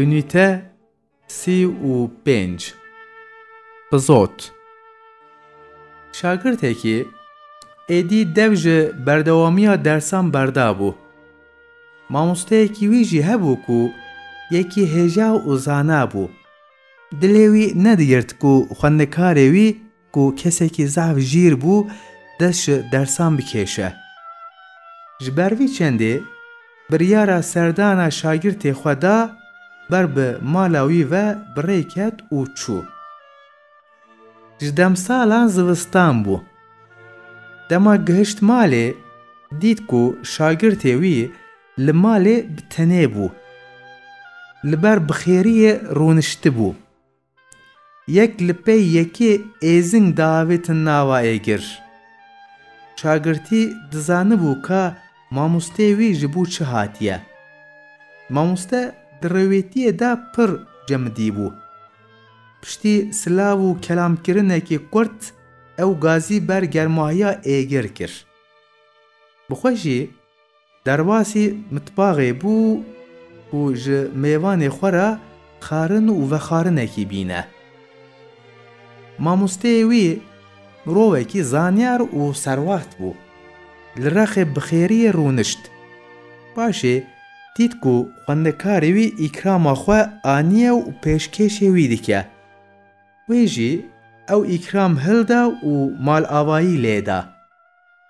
Unîte sî û pênc Pizot Şagirtekî êdî dev ji berdewamiya dersan berdabû. Mamosteyekî wî jî hebû ku yekî hêja û zana bû. Dilê wî nedigird ku xwendekarê wî Ku kesekî zaf jîr bû dest ji dersan bikêşe. Ji ber vî çendê biryara serdana şagirtê xwe da ber bi mala wî ve bi rê ket û çû. Ji demsalan zivistan bû. Dema gihişt malê dît ku şagirtê wî li malê bi tenê bû. Li ber bi xêriyê rûniştibû. Yek li pey yekê êzing diavêtin nava êgir. Çagirtî dizanibû ka mamosteyê wî ji bo çi hatiye. Mamoste di rewêtiyê de pir cemidî bû. Piştî silav û kelamkirinekî kurt ew gazî ber germahiya êgir kir. Bi xwe jî Derbasî mitbaxê bû û ji mêvanê xwe re xarin û vexarinekî bîne. Mamosteyê wî mirovekî zanyar û serwaxt bû. Li Rexê bi xêriyê rûnişt. Paşê dît ku xwendekarê wî îkrama xwe aniye û pêşkêşê wî dike. Wê jî ew îkram hilda û malavayî lê da.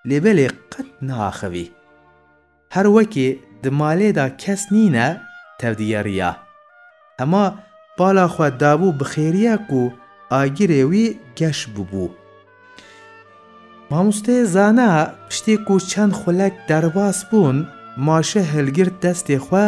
lê belê qet naaxivî. Her wekê di malê de kes nîne tevdiyeriya. Hema bala xwe dabû bi xêriye ku agirê wî geş bûbû. Mamosteyê Zana piştî ku çend xulek derbas bûn, maşe hilgirt destê xwe,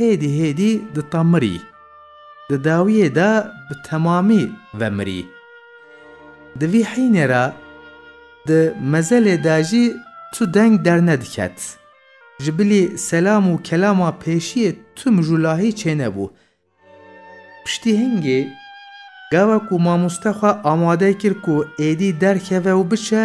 Hêdî hêdî di ta mirî. Di dawiyê de bi temamî vemirî. Di vî hînê re di mezelê de jî tu deng dernediket. Ji bilî selam û kelama pêşiyê tu mijûlahî çênebû. Piştî hingê gava ku mamoste xwe amade kir ku êdî derkeve û biçe,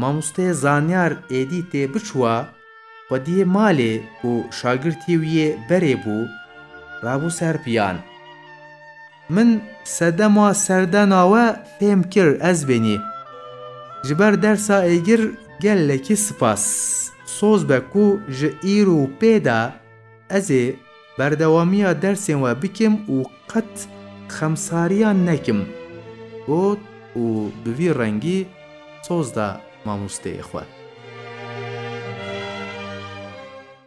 Mamosteyê zanyar êdî tê biçûa xwediyê malê ku şagirtî wî yê berê bû, rabû ser piyan. Min sedema serdena we fêm kir ez bênî. Ji ber dersa êgir gelekî sipas. Soz be ku ji îro û pê de ez ê Berdewamiya dersên we bikim û qet xemsariyan nekim, got û bi vî rengî soz da mamosteyê xwe.